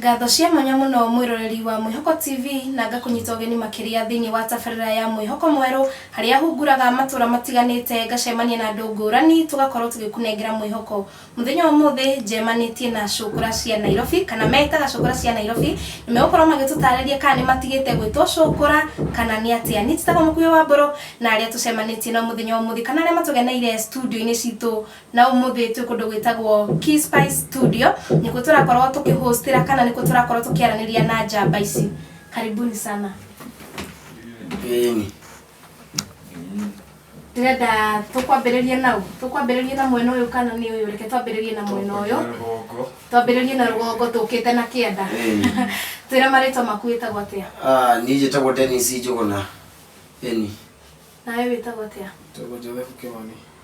ngatho cia mwanya mũno mwĩroreri wa mwĩhoko tv na ngakũnyita ũgeni makĩria thĩinĩ wa tabarĩra ya mwĩhoko mwerũ harĩa hunguraga matũra matiganĩte ngacemania na andũ ngũrani tũgakorwo tũgĩkunengera mwĩhoko Mũthenya wa ũmũthĩ njemanĩtie na cũkũra cia Nairobi kana metaga cũkũra cia Nairobi nĩ megũkorwo magĩtũtarĩria kana nĩ matigĩte gwĩtwo cũkũra kana nĩ atĩa. Niĩ njĩtagwo Mũkuhĩ wa Mbũrũ na arĩa tũcemanĩtie nao mũthenya wa ũmũthĩ kana arĩa matũgeneire studio-inĩ citũ na ũmũthĩ twĩ kũndũ gwĩtagwo Key Spice Studio nĩkuo tũrakorwo tũkĩ host ĩra kana nĩkuo tũrakorwo tũkĩaranĩria na njamba ici. Karibuni sana. ndĩrenda tũkwambĩrĩrie nau tũkwambĩrĩrie na mwena ũyũ kana nĩ ũyũ reke twambĩrĩrie na mwena ũyũ twambĩrĩrie na rũgongo tũkĩte na kĩanda twĩra marĩtwa maku wĩtagwo atĩa Ah, niĩ njĩtagwo Dennis Njũgũna. Ĩni. nawe wĩtagwo atĩa Tũgũ Joseph Kĩmani.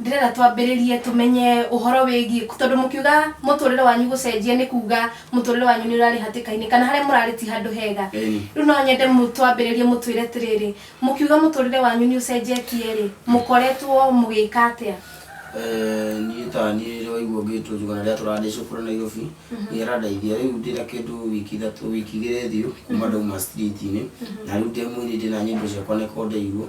Ndĩrenda twambĩrĩrie tũmenye ũhoro wĩgiĩ, tondũ mũkiuga mũtũrĩre wanyu gũcenjia nĩ kuga mũtũrĩre wanyu nĩ ũrarĩ hatĩka-inĩ kana harĩa mũrarĩ ti handũ hega. Ĩni. Rĩu no nyende twambĩrĩrie mũtwĩre atĩrĩrĩ, mũkiuga mũtũrĩre wanyu nĩ ũcenjetie rĩ, mũkoretwo mũgĩka atĩa? Eh, niĩ ta niĩ rĩu waigua ngĩtwo njuga na rĩrĩa tũrandĩcwo kũrĩa Nairobi nĩ arandeithia rĩu ndĩ na kĩndũ wiki ithatũ wiki igĩrĩ thiũ kuma ndauma street-inĩ na rĩu ndĩ mũini ndĩ na nyĩmbo ciakwa nĩko ndeirwo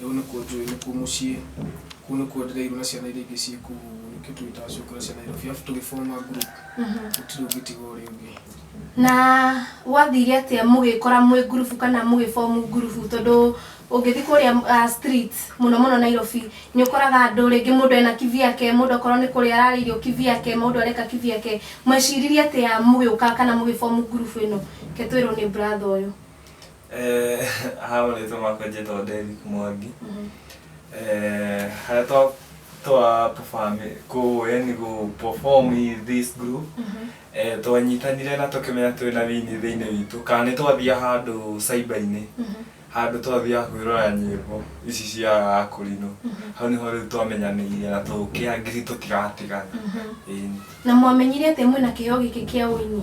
Rĩu nĩkuo njũĩ nĩkuo mũciĩ, kũu nĩkuo ndĩreirwo na ciana iria ingĩ ciĩ kũu, nĩkĩo twĩtaga ciũkũ na cia Nairobi, arabu tũgĩ form a group, gũtirĩ ũngĩtiga ũrĩa ũngĩ. Na gwathire atĩa mũgĩkora mwĩ ngurubu kana mũgĩ form ngurubu tondũ ũngĩthiĩ kũrĩa ah, streets mũno mũno Nairobi nĩ ũkoraga andũ rĩngĩ mũndũ ena kivyake, mũndũ okorwo nĩ kũrĩa ararĩa irio kivyake, mũndũ areka kivyake. Mweciririe atĩa mũgĩũka kana mũgĩ form ngurubu ĩno? Reke twĩrwo nĩ brother ũyũ. Eh, haha marĩtwa makwa njĩtagwo Derrick Mwangi Eh, harĩa twa twa perform kũ yani gũ perform in this group Eh, twanyitanire na tũkĩmenya twĩ na wini thĩinĩ witũ kana nĩ twathia handũ cyber-inĩ handũ twathiaga kwĩrora nyĩmbo ici cia akũrinũ hau nĩho rĩu twamenyanĩire na tũkĩangiri tũtiratigana Ĩni. na mwamenyire atĩa mwĩna kĩheo gĩkĩ kĩa ũini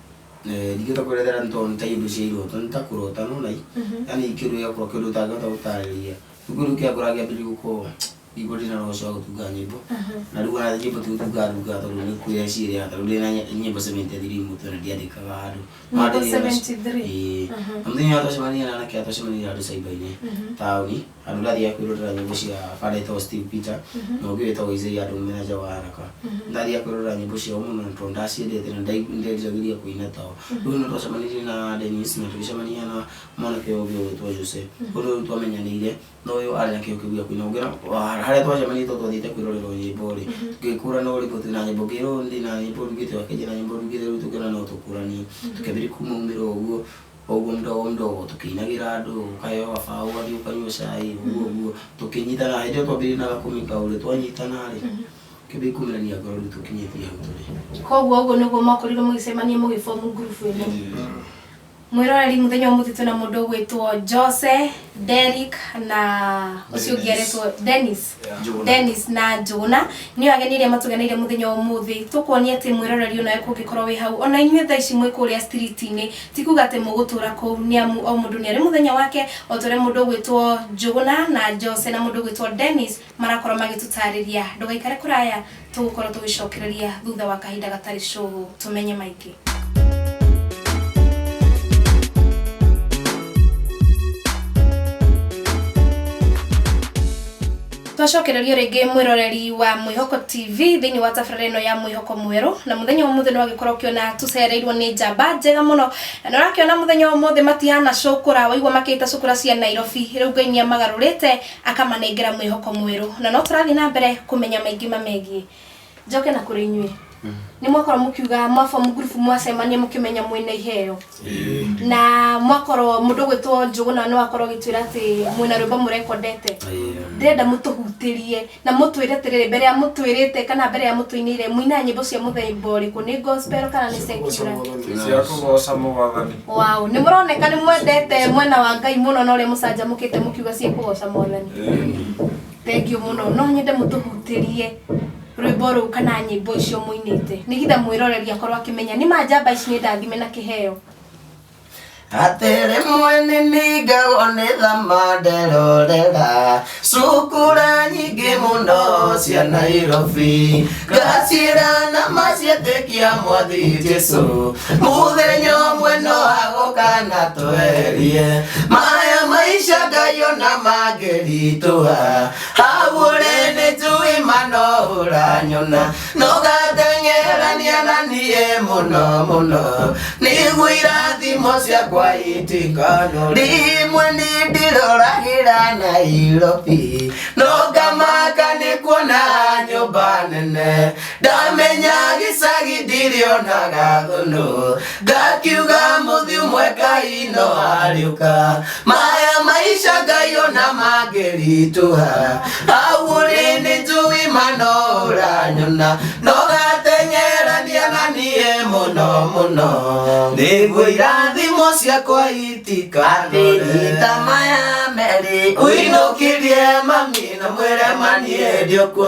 Eh, ndingĩhota kwĩrethera nĩ tondũ nĩ ta iũndũ cia iroto nĩ ta kũrota nona yani kĩndũ gĩa kũrota kĩndũ ũtangĩhota gũtarĩria rĩu kĩndũ kĩa ngora kĩa mbere gũkorwo igua ndĩna na ũcio wa gũtunga nyĩmbo na rĩu ona nyĩmbo ti gũtunga ndunga tondũ nĩ kuoya ciĩrĩa tondũ ndĩna ny- nyĩmbo 73 mũtwe na ndiandĩkaga handũ No Nyĩmbo ndĩrĩ na- 73? Ĩĩ. Na mũthenya ũrĩa twacemania na anake aya twacemanirie handũ caiba-inĩ taũni Handũ ndathiaga kwĩrorera nyĩmbo cia banda ĩtagwo Steve Peter na ũngĩ wĩtagwo Isaiah andũ mena nja wa haraka. Ndathiaga kwĩrorera nyĩmbo ciao mũno na tondũ ndaciendete na ndai- nĩnderiragĩria kũina tao. Rĩu nĩ twacemanirie na Dennis na tũgĩcemania na mwanake ũyũ ũngĩ ũgwĩtwo Jose. Rĩu rĩu twamenyanĩire na ũyũ arĩ na kĩyo kĩu gĩa kũina. Ũngĩona wa- harĩa twacemanirie tondũ twathiĩte kwĩrorerwo nyĩmbo-rĩ, tũgĩkũrana ũrĩkũ twĩ na nyĩmbo ngĩrwo ndĩ na nyĩmbo ndugĩte, ũyũ akĩnjĩra nyĩmbo ndugĩte rĩu tũkĩona no tũkũranie. Tũkĩambĩrĩria kumaumĩra ũguo. O ũguo mũdogo mũdogo tũkĩinagĩra andũ, ũkaheyo gabaũ ũgathiĩ ũkanyua cai, ũguo ũguo. Tũkĩnyitana, hĩndĩ ĩyo twambĩrĩirie na gakũmi kau rĩ, twanyitana rĩ, tũkĩambia kũmenania ngoro rĩu tũkinyĩtie hau tũrĩ. Koguo ũguo nĩguo mwakorirwo mũgĩcemania mũgĩ form ngurubu ĩno? Mwĩroreri, mũthenya wa ũmũthĩ twĩna mũndũ ũgwĩtwo Jose, Derrick na ũcio ũngĩ aretwo Dennis. Dennis na Jona nĩ ageni iria matugeneire muthenya wa umuthi tukuonia ati mwiroreri ona kungikorwo wi hau ona inyuĩ thaa ici mwĩ kuria street-inĩ ti kuga ati mugutura kuu ni amu o mundu ni ari muthenya wake o ta uria mundu ugwitwo Jona na Jose na mundu ugwitwo Dennis marakorwo magitutariria ndugaikare kuraya Tũgũkorwo tũgĩcokereria thutha wa kahinda gatarĩ cũgũ tũmenye maingĩ. twacokererio rĩngĩ mwĩroreri wa mwĩhoko tv thĩinĩ wa tabarĩra ĩno ya mwĩhoko mwerũ na mũthenya wa mũthĩ nĩwagĩkorwo ũkĩona tũcereirwo nĩ njamba njega mũno na nĩũrakĩona mũthenya wa mũthĩ matihana cũkũra waigua makĩta cũkũra cia nairobi rĩu ngai nĩamagarũrĩte akamanengera mwĩhoko mwerũ na no tũrathiĩ na mbere kũmenya maingĩ mamegiĩ njoke na kũrĩ inyuĩ nĩ mwakorwo mũkiuga mwabomu ngurubu mwacemania mũkĩmenya mwĩna iheo na mwakorwo mũndũ gwĩtwo njũgũna no akorwo gĩtwĩra atĩ mwĩna rwĩmbo mũrekondete ndĩrenda mũtũhutĩrie na mũtwĩre atĩrĩrĩ mbere ya mũtwĩrĩte kana mbere ya mũtũinĩire mũinaga nyĩmbo cia mũthemba ũrĩkũ nĩ gospel kana nĩ secular cia kũgoca mwathani Wow, nĩ mũroneka nĩ mwendete mwena wa Ngai mũno na ũrĩa mũcanjamũkĩte mũkiuga ciĩ kũgoca mwathani. Thengiũ mũno, no nyende mũtũhutĩrie rwĩmbo rũu kana nyĩmbo icio mũinĩte nĩgetha mwĩroreri akorwo akĩmenya nĩ ma njamba ici nĩ ndathime na kĩheo. Atĩrĩ mwene nĩ ngagwo nĩ thamande rorera cukura nyingĩ mũno cia nairobi ngaciĩra na macietĩkia mwathi jesu mũthenya ũmwe no agũka na twerie maya maica ngai ona mangĩritũha hagũre nĩ njũĩ manoũranyona nũgateng'erania na niĩ mũno mũno nĩguo irathimo ciakwa itikanũre rimwe nĩndĩroragĩra nairobi nũngamaka nĩ kuona nyũmba nene ndamenya gĩcagi ndirĩonaga thũnũ ngakiuga mũthiu mwe ngai no ariũka maya maisha ngai ona mangĩritũha hau ũrĩ nĩ njũĩ mano ũranyona no gatengerania na niĩ mũno mũno nĩguo irathimo ciakwa itikathĩnyita maya merĩ ũinũkĩrie mami na mwĩre maniĩ ndiũkuo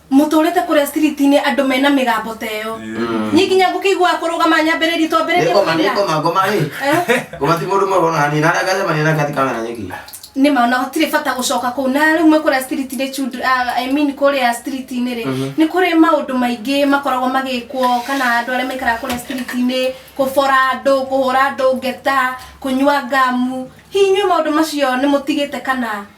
mũtũrĩte kũrĩa street-inĩ andũ mena mĩgambo ta ĩyo niĩ nginya ngũkĩiguaga kũrũgama nyambĩrĩrie twambĩrĩrie Nĩngoma, kũina. nĩngoma, ngoma rĩ. Eh, Ngoma ti mũndũ mũrũ ona hanini. Harĩa ngacemania nake ati kamera nyeki. nĩ ma ona gũtirĩ bata gũcoka kũu na rĩu mwe kũrĩa street-inĩ children- ah, I mean kũrĩa street-inĩ rĩ nĩ kũrĩ maũndũ maingĩ makoragwo magĩkwo kana andũ arĩa maikaraga kũrĩa street-inĩ kũbora andũ kũhũra andũ ngeta kũnyua ngamu hihi inyuĩ maũndũ macio nĩ mũtigĩte kana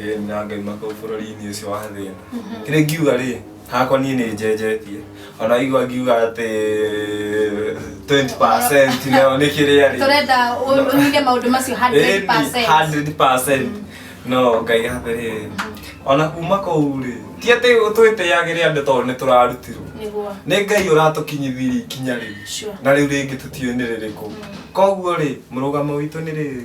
Ĩĩ nĩ na ngaima kũu bũrũri-inĩ ũcio wa thĩna. Kĩrĩa ingiuga rĩ, hakwa niĩ nĩ njenjetie. O na waigua ngiuga atĩ 20% nayo nĩ kĩrĩa rĩ. Tũrenda ũ- ũnyite maũndũ macio 100%. 100% no ngai hambe rĩ ona kuma kũu rĩ ti atĩ twĩtĩagĩre andũ tondũ nĩ tũrarutirwo Nĩguo. nĩ ngai ũratũkinyithirie ikinya rĩu Sure. na rĩu rĩngĩ tũtiũĩ nĩ rĩrĩkũ koguo rĩ mũrũgamo witũ nĩ rĩrĩ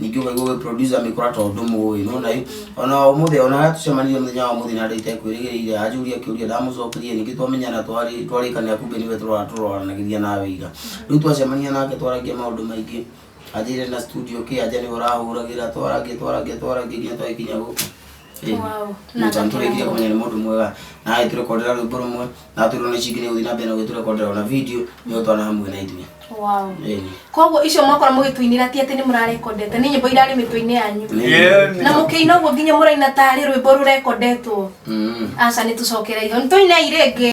ningĩ ũkaigua ũgĩ producer mĩkora tondũ ndũmũĩ nona ĩ ona ũmũthĩ ona harĩa tũcemanirie mũthenya wa ũmũthĩ na andũ itekwĩrĩgĩrĩire anjũria kĩũria ndamũcokeria ningĩ twamenyana twarĩ- twarĩkanĩra kumbe nĩwe tũrora tũroranagĩria nawe ira rĩu twacemania nake twaragia maũndũ maingĩ anjĩrĩre na studio kĩ anja nĩwe ũrahũragĩra twaragia twaragia twaragia nginya twagĩkinya gũkũ nĩtantũrĩkie kũmenya nĩ mũndũ mwega na agĩtũrekondera rwĩmbo rũmwe na tũrwo nĩ cingĩ nĩ gũthiĩ na mbere na gũgĩtũrekondera ona video nĩ ũtwana hamwe na ithuĩ Wow. Ĩĩ. koguo icio mwakora mũgĩtũinĩra ti atĩ nĩ mũrarekondete nĩ nyĩmbo irarĩ mĩtwe-inĩ yanyu Nĩ- na mũkĩina ũguo nginya mũraina tarĩ rwĩmbo rũrekondetwo Mm. aca nĩ tũcokereirio nĩ tũinei rĩngĩ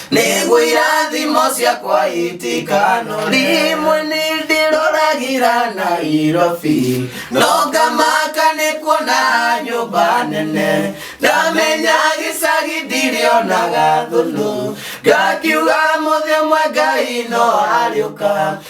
nĩguo irathimo ciakwa itikanore rĩmwe nĩ ndĩroragira nairobi no ngamaka nĩ kuona nyũmba nene ndamenya gĩcagi ndirĩonaga thũnũ ngakiuga mũthĩ ũmwe ngai no arĩũka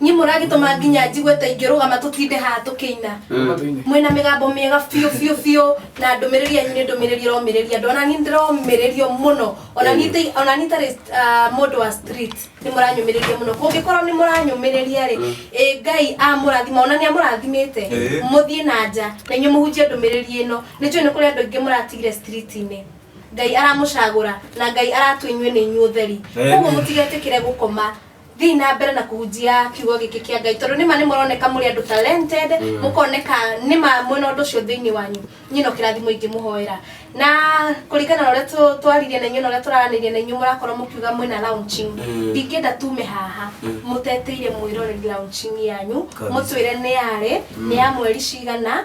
Nyie mũragĩtũma nginya njigue ta ingĩrũgama tũtinde haha tũkĩina mwĩna mĩgambo mĩega biũ biũ biũ na ndũmĩrĩri yanyu nĩ ndũmĩrĩri ĩromĩrĩria andũ ona niĩ ndĩromĩrĩrio mũno ona niĩ ta- ona niĩ tarĩ ah, mũndũ wa street nĩ mũranyũmĩrĩria mũno kũngĩkorwo nĩ mũranyũmĩrĩria rĩ ĩ ngai amũrathima ona nĩ amũrathimĩte Ĩĩ. mũthiĩ na nja na inyuĩ mũhunjie ndũmĩrĩri ĩno nĩ njũĩ nĩ kũrĩ andũ aingĩ mũratigire street-inĩ ngai aramũcagũra na ngai aratũ inyuĩ nĩ inyuĩ ũtheri Amen. koguo mũtigetĩkĩre gũkoma thiä na mbere na kũhunjia kiugo gĩkĩ kĩa ngai tondũ nĩma nĩ mũroneka mũrĩ andũ talented mũkoneka nĩma mwena ũndũ ũcio thĩinĩ wanyu nyina å kä rathimo ingĩ mũhoera na kũringana na ũrĩa tũ- twaririe na inyuĩ na ũrĩa tũraranĩria na inyuĩ mũrakorwo mũkiuga mwĩna launching Mm. ndingĩenda tume haha Mm. mũteteire mwĩroreri launching yanyu Kabisa. mũtwĩre nĩ yarĩ nĩ ya mweri cigana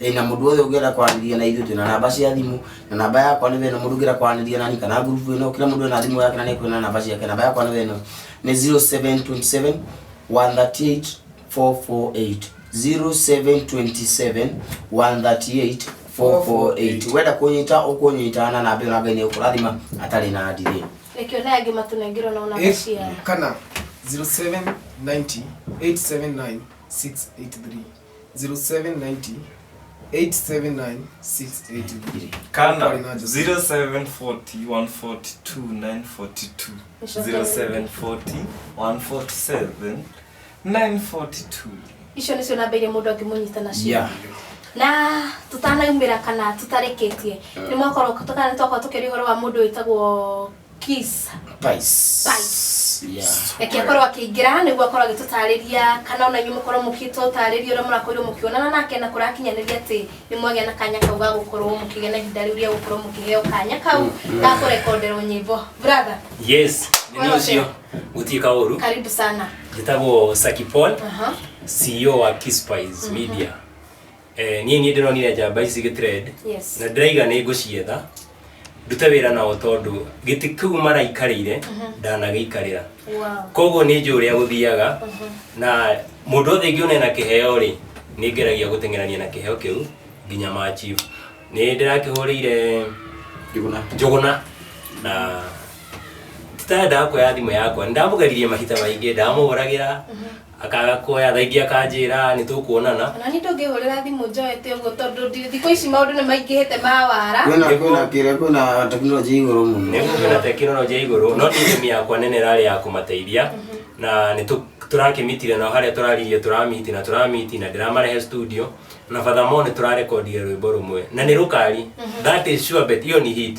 ĩ na mũndũ wothe ũngĩenda kwaranĩria na ithuĩ twĩna namba cia thimũ na namba yakwa nĩ wena mũndũ ũngĩenda kwaranĩria nani kana ngurubu ĩno kila mũndũ ena thimũ yake na nĩkuona na namba ciake namba yakwa nĩ wena nĩ 0727 138 448 0727 138 448 wenda kũnyita ũkũnyita na namba ĩyo na ngai nĩ ũkũrathima atarĩ na ndirĩ Rekio na angĩ matunengirwo na ona Eight- maciara. kana 0790 879 683 0790 879683 kana Kwa inaje? 0740142942 0740147942 icio nĩcio namba iria mũndũ angĩmũnyita nacio Yeah. na tũtanaumĩra kana tũtarĩkĩtie nĩ mwakorwo kana nĩ twakorwo tũkĩria ũhoro wa mũndũ wĩtagwo Kiss. Pice. Pice. Yeah. reke akorwo akĩingĩra nĩguo akorwo agĩtũtarĩria kana ona inyuĩ mũkorwo mũgĩtũtarĩria ũrĩa mũrakorirwo mũkĩonana nake na kũrakinyanĩria atĩ nĩ mwagĩa na kanya kau ga gũkorwo mũkĩgĩa na ihinda rĩu rĩa gũkorwo mũkĩheo kanya kau ga kũrekonderwo nyĩmbo brother yes nĩ Wega ũcio gũtiĩka ũru karibu sana njĩtagwo saki paul Aha. ceo wa kispice media eh, niĩ niĩ ndĩronire njamba ici gĩtrend Yes. na ndĩraiga nĩ ngũcietha ndute wĩra nao tondũ gĩtĩ kĩu maraikarĩire ndanagĩikarĩra Wow. koguo nĩ njũ ũrĩa gũthiaga na mũndũ othe ngĩona ena kĩheo rĩ nĩ ngeragia gũteng'erania na kĩheo kĩu nginya ma chief nĩ ndĩrakĩhũrĩire Njuguna. njũgũna na titaendaga kuoya thimũ yakwa nĩ ndamũgeririe mahinda maingĩ ndamũhũragĩra akaga kuoya thaa ingĩ akanjĩra nĩ tũkuonana Ona niĩ ndũngĩhũrĩra thimũ njoete ũguo tondũ ndi- thikũ ici maũndũ nĩ maingĩhĩte ma wara. Kwĩna kwĩna kĩrĩa kwĩna tekinoronjĩ igũrũ mũno. nĩguo kwĩna tekinoronjĩ ya igũrũ no niĩ ĩmi yakwa nene ĩrarĩ ya kũmateithia na nĩ tũ- tũrakĩmitire nao harĩa tũraririe tũramiti na tũramiti na ndĩramarehe studio na furthermore nĩ tũrarekondire rwĩmbo rũmwe na nĩ rũkari that is sure bet iyo ni hit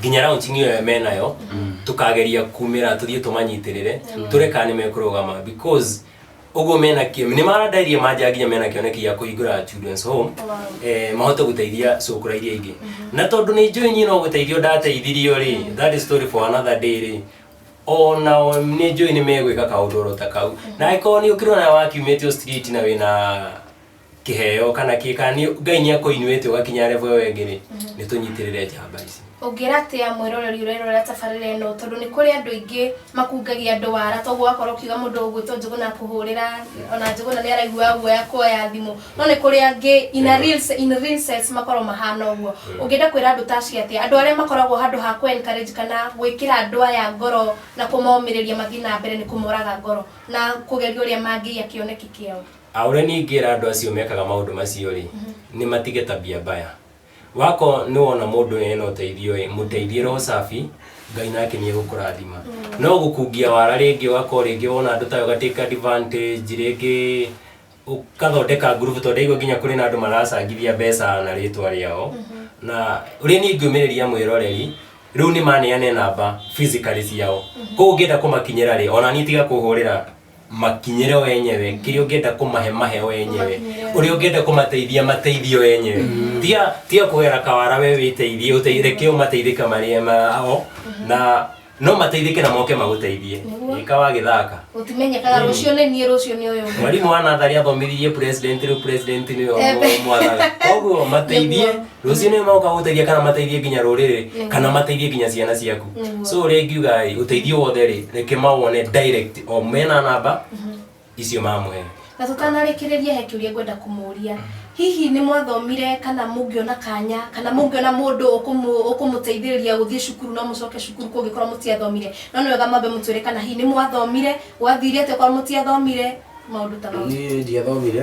nginya raunching ĩyo ya menayo tũkageria kumĩra tũthiĩ tũmanyitĩrĩre tũre kana nĩ mekũrũgama because ũguo mena kĩ nĩ marandairie manja nginya mena kĩoneki gĩa kũhingũra children's home eh, mahote gũteithia cũkũra iria ingĩ na tondũ nĩ njũĩ niĩ no gũteithio ndateithirio rĩ that is story for another day rĩ onao nĩ njũĩ nĩ megwĩka kaũndũ oro ta kau na angĩkorwo nĩ ũkĩrona wakiumĩtio street na wĩna kĩheo kana kĩ kana nĩ- ngai nĩ akũinuĩte ũgakinya revo ĩyo ĩngĩ rĩ nĩ tũnyitĩrĩre njamba ici ũngĩra atĩa mwĩroreri ũrerorera tabarĩra ĩno tondũ nĩ kũrĩ andũ aingĩ makungagia andũ wara toguo wakorwo ũkiuga mũndũ ũgwĩtwo njũgũna akũhũrĩra ona njũgũna nĩ araiguaga guoya kuoya thimũ no nĩ kũrĩ angĩ in a real se- in a real sense makorwo mahana ũguo ũngĩenda kwĩra andũ ta acio atĩa andũ arĩa makoragwo handũ ha kũ encourage kana gwĩkĩra andũ aya ngoro na kũmomĩrĩria mathiĩ na mbere nĩ kũmoraga ngoro na kũgeria ũrĩa mangĩiya kĩoneki kĩao A Ũrĩa niĩ ingĩra andũ acio mekaga maũndũ macio-rĩ, nĩ matige tabia mbaya. Wakorwo nĩ wona mũndũ ũyũ ena ũteithio-ĩ, mũteithie roho safi, Ngai nake nĩ egũkũrathima. No gũkungia wara rĩngĩ ũgakorwo rĩngĩ wona andũ ta aya ũga take advantage, rĩngĩ ũgathondeka ngurubu tondũ ndaigua nginya kũrĩ na andũ maracangithia mbeca na rĩtwa rĩao. Na ũrĩa niĩ ingĩũmĩrĩria mwĩroreri, rĩu nĩ maneane namba physically ciao. Kũguo ũngĩenda kũmakinyĩra-rĩ, ona niĩ tiga kũhũrĩra makinyĩre o enyewe kĩrĩa ũngĩenda kũmahe mahe o enyewe ũrĩa ũngĩenda kũmateithia mateithie o enyewe tiga tiga kũgera kawara we wĩteithie ũte- reke ũmateithĩke marĩ ma- o na no mateithĩke na moke magũteithie Nĩguo. ĩka wagĩthaka gũtimenyekaga rũciũ nĩ niĩ rũciũ nĩ ũyũ ũngĩ. mwarimũ wa natharĩ athomithirie president rĩu president nĩwe Ebe. mwathaga koguo mateithie Nĩguo. rũciũ nĩ moka gũteithia kana mateithie nginya rũrĩrĩ kana mateithie nginya ciana ciaku so ũrĩa ngiuga ĩ ũteithio wothe rĩ reke mawone direct o mena namba icio mamũhe na tũtanarĩkĩrĩria he kĩũria ngwenda kũmũria hihi nĩ mwathomire kana mũngĩona kanya kana mũngĩona mũndũ ũkũmũ- ũkũmũteithĩrĩria gũthiĩ cukuru no mũcoke cukuru kũngĩkorwo mũtiathomire no nĩ wega mambe mũtwĩre kana hihi nĩ mwathomire gwathire atĩa korwo mũtiathomire maũndũ ta mau niĩ ndiathomire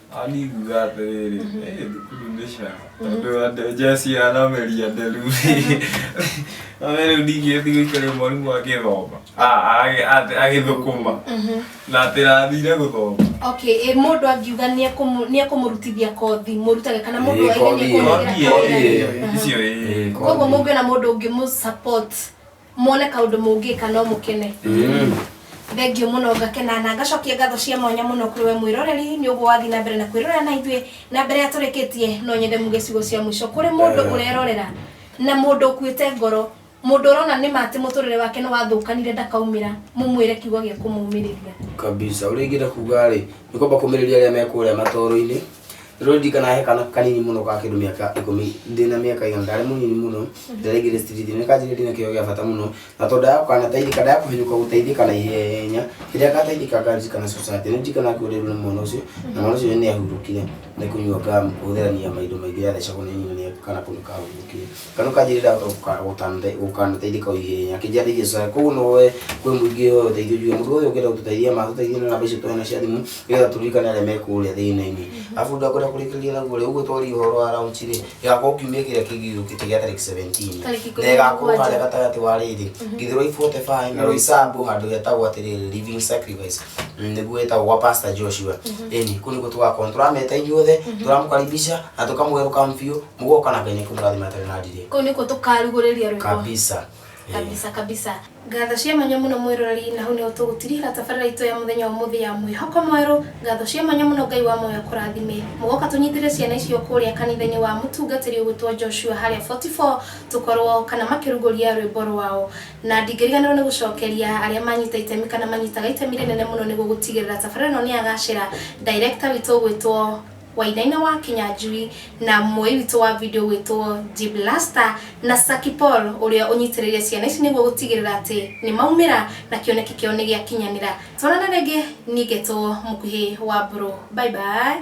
Aningiuga atĩrĩrĩ, "Ĩ, thukuru nĩ ca." Tondũ andũ Jesse anameria nderu rĩ, none rĩu ningĩ thiĩ ũikare mwarimũ agĩthoma, a- agĩ- atĩ- agĩthũkũma, na atĩ ndathire gũthoma. Okay, ĩ, mũndũ angiuga nĩ ekũmũ- nĩ ekũmũrutithia kothi mũrutage kana mũndũ Ĩĩ, oige nĩ kothi ĩyo. ekũmũrutĩra Kothi kothi ĩyo. ĩyo. Icio ĩĩ. Ĩĩ, Koguo kothi. mũngĩona mũndũ ũngĩmũ support Muone kaundu mungika no mukene. Thengio muno ngakena na ngacokia ngatho cia mwanya muno kuri we mwiroreri ni uguo wathi na mbere na kwirorera na ithuĩ na mbere ya turikitie no nyende muge ciugo cia mwico kuri mundu urerorera na mundu ukuite ngoro mundu urona nima ati muturire wake ni wathukanire ndakaumira mumwire kiugo gia kumumiriria kabisa uria ingĩenda kuga rĩ nĩ kwamba kũmĩrĩria arĩa me kũrĩa matoro-inĩ rero ndirikana he kana kanini muno ka kindu miaka ikumi ndina miaka igana ndari munini muno ndaregire street ni kanjire ndina kiyo gia bata muno na tondu ya kana taithika ndaya kuhinyuka gutaithika na ihenya rira kataithika kanjikana society ni ndikana kurirwo ni mwana ucio na mwana ucio ni ahurukire ni kunyua gamu gutherania maindu maingi yathecagwo ni nyina ni kana kundu kahurukire kana ukanjirira ukandeithia kwa ihenya kinjarĩrie sasa koguo no we kwĩ mũingĩ ũyũ ũteithio njue mũndũ ũyũ ũngĩenda gũtũteithia ma tũteithie na namba icio twena cia thimũ nĩgetha tũririkane arĩa me kũrĩa thĩna-inĩ arabu ũndũ akũrĩa kũrĩkĩrĩria naguo rĩ ũguo twaria ũhoro wa raunji rĩ ĩgakorwo kiumia kĩrĩa kĩngĩ gĩũkĩte gĩa tarĩki 17 Tarĩki ikũmi na na ĩgakorwo mũgwanja. harĩa gatagatĩ wa rĩrĩ githiroi 45 na roisambu handũ hetagwo atĩrĩrĩ living sacrifice Mm, nĩguo ĩtagwo gwa pastor joshua ĩni kũu nĩkuo tũgakorwo tũrameta inyuothe tũramũkaribisha na tũkamũherũka mbiũ mugoka na ngai nä kå må rathima atarä na ndirä kå u nä kuo tå karugå rä ria rwä kabisa Eh, kabisa kabisa ngatho cia mwanya muno mwiroreri na hau niho tugutirihira tabarira itu ya muthenya wa muthi ya mwihoko mweru ngatho cia mwanya muno ngai wa moyo kurathime mugoka tunyitire ciana icio kuria kanitha-ini wa mutungatiri ugwitwo joshua haria 44 tukorwo kana makiruguria rwimbo rwao na ndingiriganirwo ni gucokeria aria manyita itemi kana manyitaga itemi rinene muno niguo gutigirira tabarira ino ni yagacira director witũ ugwitwo Wainaina wa Kĩnyanjui na muoyi witũ wa video ũgwĩtwo Jib Lasta na Saki Paul ũrĩa ũnyitĩrĩire ciana ici nĩguo gũtigĩrĩra atĩ nĩ maumĩra na kĩoneki kĩao nĩ gĩakinyanĩra. Tonana rĩngĩ niĩ ngetwo Mũkuhĩ wa Mbũrũ. Bye bye.